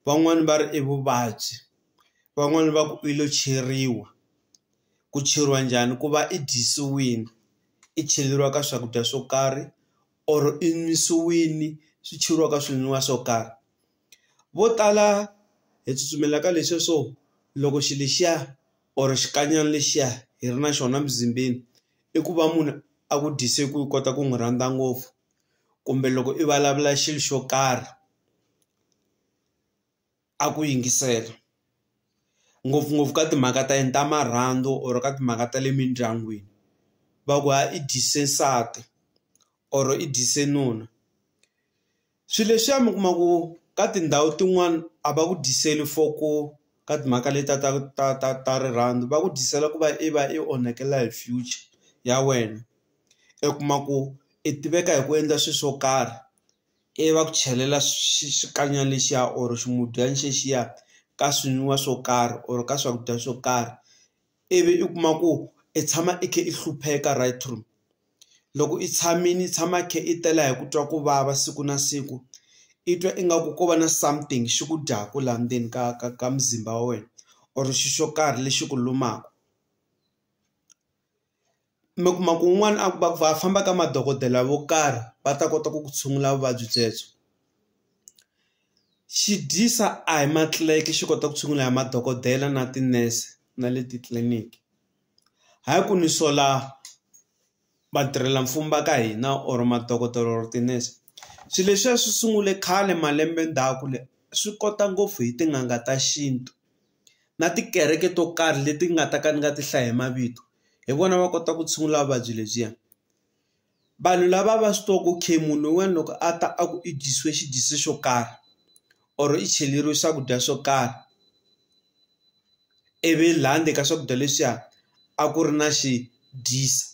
van'wani va ri i vuvabyi van'wani va ku i lo cheriwa ku cheriwa njhani ku va i dyisiwini i cheleriwa ka swakudya swo karhi or i nwisiwini swi cheriwa ka swinwiwa swo karhi vo tala hi tsutsumela ka leswiya swo loko xilo lexiya or xikanyana lexiya hi ri na xona mizimbeni i ku va munhu a ku dyise ku kota ku n'wi rhandza ngopfu kumbe loko i vulavula xilo xo karhi a ku yingisela ngopfungopfu ka timhaka ta yini ta marhandzu or ka timhaka ta le mindyangwini va ku ha i dyise nsati or i dyise nuna swi leswiya mi kuma ku ka tindhawu tin'wani a va ku dyiseli for ku ka timhaka leti ta ta ta ta ta rirhandzu va ku dyisela ku va i va i onhakela hi future ya wena i kuma ku i tiveka hi ku endla swi swo karhi ivi va ku chelela xikanyana lexiya or ximudyana xexiya ka swinwiwa swo karhi or ka swakudya swo karhi ivi i kuma ku i tshama i kha i hlupheka right through loko i tshamile i tshama i kha i tela hi ku twa ku vava siku na siku i twa ingaku ko va na something xi ku dyaku laha ndzeni ka ka ka muzimba wa wena or xi xo karhi lexi ku lumaka. mi kuma ku un'wana a va va famba ka madokodela vo karhi va ta kota ku ku tshungula vuvabyi byebyo xi dyisa a hi matlilayiki xi kota ku tshungula hi madokodela na tinese na le titliliniki hi ku ni sola vatirhela mfumo va ka hina or madokodela or tinese swilo leswiya swi sungule khale malembe ndzhaku le swi kota ngopfu hi tin'anga ta xintu. na tikereke to karhi leti nga ta ka ni nga ti hlaya hi mavito hi vona va kota ku tshungula vuvabyi lebyiya vanhu lava va swi tiva ku okay munhu un'wana loko a ta a ku i dyisiwe xidyisi xo karhi or i cheleriwe swakudya swo karhi ivi la ndzeni ka swakudya leswiya a ku ri na xi dyisa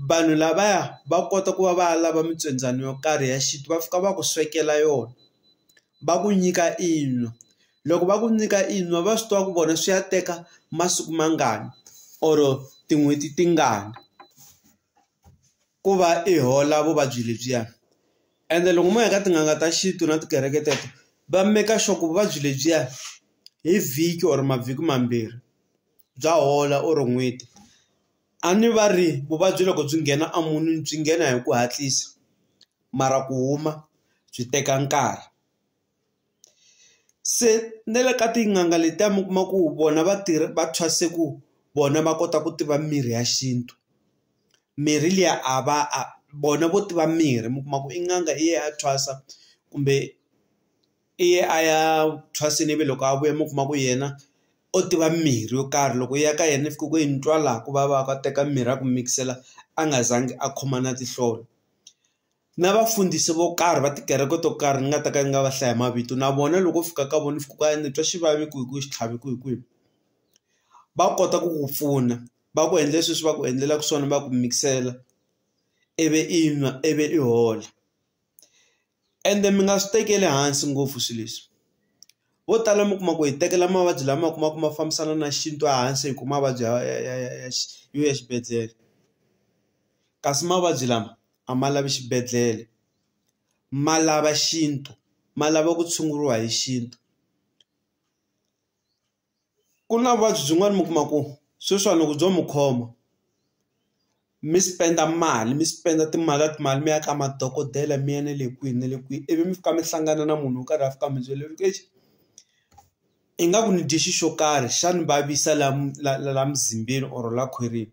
vanhu lavaya va kota ku va va ya lava mitswendzani yo karhi ya xintu va fika va ku swekela yona va ku nyika i nwa. Loko va ku nyika i nwa va swi tiva ku vona swi ya teka masiku mangani or tin'hweti tingani ku va i hola vuvabyi lebyiya ende loko mo ya ka tin'anga ta xintu na tikereke teto va make sure ku vuvabyi lebyiya hi vhiki or mavhiki mambirhi bya hola or n'hweti a ni va ri vuvabyi loko byi nghena a munhu byi nghena hi ku hatlisa mara ku huma byi teka nkarhi. Se na le ka tin'anga letiya mi kuma ku vona va tirha va thwase ku vona va kota ku tiva mirhi ya xintu mirhi liya a va a vona vo tiva mirhi mi kuma ku i n'anga i ye a thwasa kumbe i ye a ya thwasini ivi loko a vuya mi kuma ku yena o tiva mirhi yo karhi loko i ya ka yena i fika ku yi ni twa laha ku vava ka teka mirhi ya ku mikisela a nga zangi a khoma na tinhlolo. na vafundhisi vo karhi va tikereke to karhi ni nga ta ka ni nga va hlaya mavito na vona loko u fika ka vona fika ku ni twa xivavi ku hi ku xitlhavi ku hi kwihi va kota ku ku pfuna va ku endle sweswi va ku endlelaka swona va ku mikisela ivi i nwa ivi i hola ende mi nga swi tekeli hansi ngopfu swilo leswi vo tala mi kuma ku hi tekela mavabyi lama kuma ku ma fambisana na xintu ehansi hi ku mavabyi ya ya ya ya ya yo ya xibedhlele kasi mavabyi lama a ma lavi xibedhlele ma lava xintu ma lava ku tshunguriwa hi xintu ku na vuvabyi byin'wana mi kuma ku sweswiwani loko byo mi khoma mi spend-a mali mi spend-a timali na timali mi ya ka madokodela mi ya na le kwihi na le kwihi ivi mi fika mi hlangana na munhu wo karhi a fika a mi byela ku exi ingaku ni dye xi xo karhi xa ni vavisa la la la la mzimbeni or la khwirini.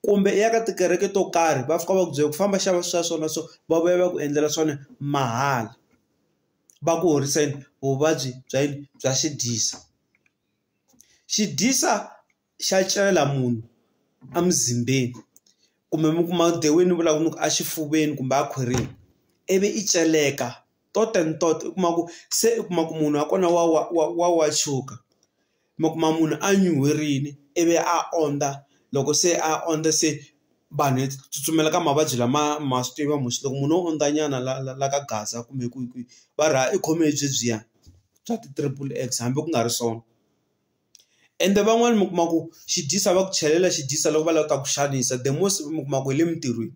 Kumbe i ya ka tikereke to karhi va fika va ku byela ku famba xava swa so na so va vuya va ku endlela swona mahala va ku horisa yini vuvabyi bya yini bya xi dyisa. Xi dyisa xa celela munhu emuzimbeni kumbe mi kuma dewini ni vulaka ni ku exifuveni kumbe a khwirini ivi i celeka tot and tot u kuma ku se u kuma ku munhu wa kona wa wa wa wa wa tshuka. mi kuma munhu a nyuherile ivi a ondza loko se a ondza se vanhu hi tsutsumela ka mavabyi lama ma swi tiva mu swi loko munhu o ondza nyana la la la ka gaza kumbe kwihi kwihi va ri ha i khome hi byebyiya bya ti triple X hambi ku nga ri swona ende van'wani mi kuma ku xi dyisa va ku chelela xi dyisa loko va lava ku ta ku xanisa the most mi kuma ku hi le mintirhweni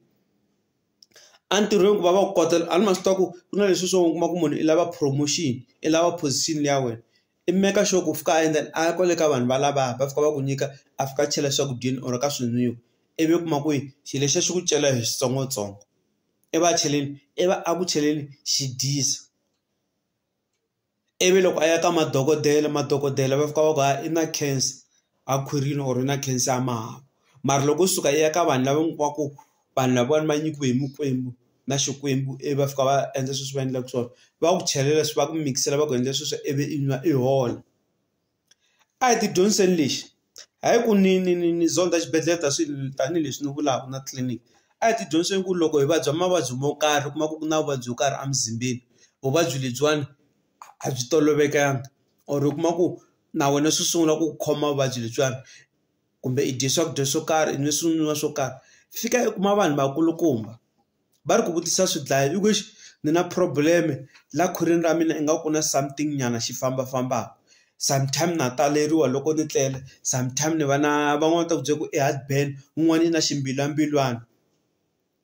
a ntirhweni ku va va ku kota a ni ma swi tiva ku ku na leswi swo u kuma ku munhu i lava promotion i lava position liya wena. i make sure ku u fika a endla a ya kwale ka vanhu valava va fika va ku nyika a fika a chela swakudyeni or ka swinwiwa ivi u kuma ku yi xilo lexiya xi ku cela hi switsongotsongo i va cheleni i va a ku cheleni xi dyisa ivi loko a ya ka madokodela madokodela va fika va ku i na cancer. a khwirini or yi na cancer ya mahawu mara loko yo suka yi ya ka vanhu lava mi kuma ku vanhu lavawani va nyikiwe hi mikwembu na xikwembu ivi va fika va endla sweswi va endlaka swona va ku chelela swi va ku mikisela va ku endla sweswo ivi i nwa i hola a hi ti dyondziseni lexi a hi ku ni ni ni ni zonda xibedhlele ta swi tanihileswi ni vulaka na tliliniki a hi ti dyondziseni ku loko hi vabya mavabyi mo karhi u kuma ku ku na vuvabyi byo karhi emuzimbeni vuvabyi lebyiwani. a byi tolovelekanga or u kuma ku na wena swi sungula ku khoma vuvabyi lebyiwani kumbe i dye swakudya swo karhi i nwe swi nwiwa swo karhi fika i kuma vanhu vakulukumba va ri ku vutisa swi dlaya i ku exi ni na problem la khwirini ra mina ingaku ku na something nyana xi fambafambaka sometime na taleriwa loko ni tlele sometime ni va na van'wani va ta ku byela ku i heart burn un'wani i na ximbilwambilwani.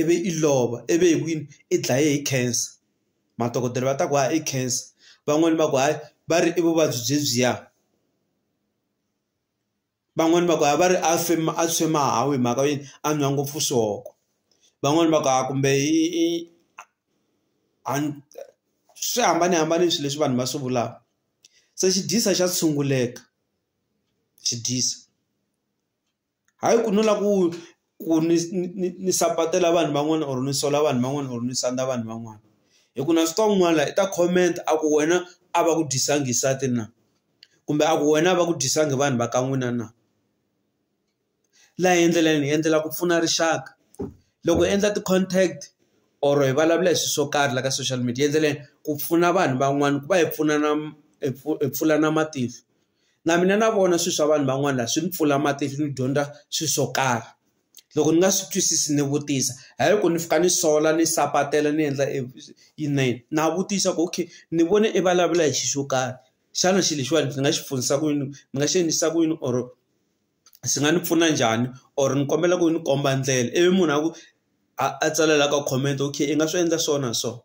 ivi i lova ivi hi ku yini i dlaye hi cancer madokodela va ta ku hayi i cancer van'wani va ku hayi va ri i vuvabyi byebyiya van'wani va ku hayi va ri a swi a swi mahawu hi mhaka yini a nwa ngopfu swona van'wani va ku hayi kumbe i i a swi hambanahambane swilo leswi vanhu va swi vulaka se xi dyisa xa tshunguleka xi dyisa. hayi ku no lava ku ku ni ni ni sapatela vanhu van'wana or ni sola vanhu van'wana or ni sandza vanhu van'wana hi ku na swi tiva un'wana la i ta comment a ku wena a va ku dyisanga nsati na kumbe a ku wena a va ku dyisanga vanhu va ka n'wina na laha hi ndlela leyi hi endlela ku pfuna rixaka loko hi endla ti-contact or hi vulavula hi swilo swo karhi la ka social media hi endleleni ku pfuna vanhu van'wana ku va hi pfunana hi hi pfulana matihlo. na mina na vona swilo swa vanhu van'wana la swi ni pfula matihlo ni dyondza swilo swo karhi loko ni nga swi twisisi ni vutisa hayi ku ni fika ni sola ni sapatela ni endla yini na vutisa ku okay ni vone i vulavula hi xilo xo karhi xana xilo lexiwani ndzi nga xi pfunisa ku yini ni nga xi endlisa ku yini or swi nga ni pfuna njhani or ni kombela ku ni komba ndlela ivi munhu a ku a tsalela ka comment okay i nga swi endla so na so.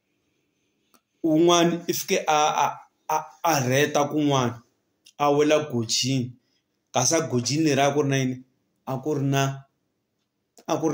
un'wana i fike a a a a rheta kun'wana a wela gojini kasi a gojini leriya a ku ri na yini a ku ri na a ku ri na.